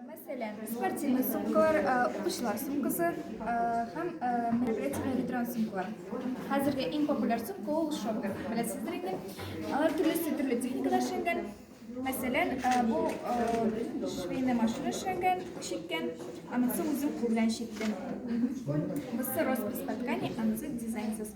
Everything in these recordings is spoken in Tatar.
Мәсәлән, спортивный сумкалар, укучылар сумкасы һәм мероприятиеләр ветеран сумкалар. Хәзерге иң популяр сумка ул шопер. Беләсездер инде. Алар төрлесе төрле техникада эшләнгән. Мәсәлән, бу швейная машина эшләнгән, чиккән, анысы үзем кул белән чиктем. Бусы роспись по ткани, анысы дизайнсыз.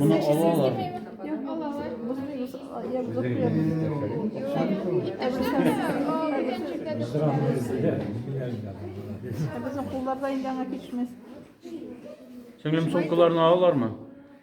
Моны алалар. Безнең кулларда инде аңа кичмәс. Сеңлем сумкаларны алалармы?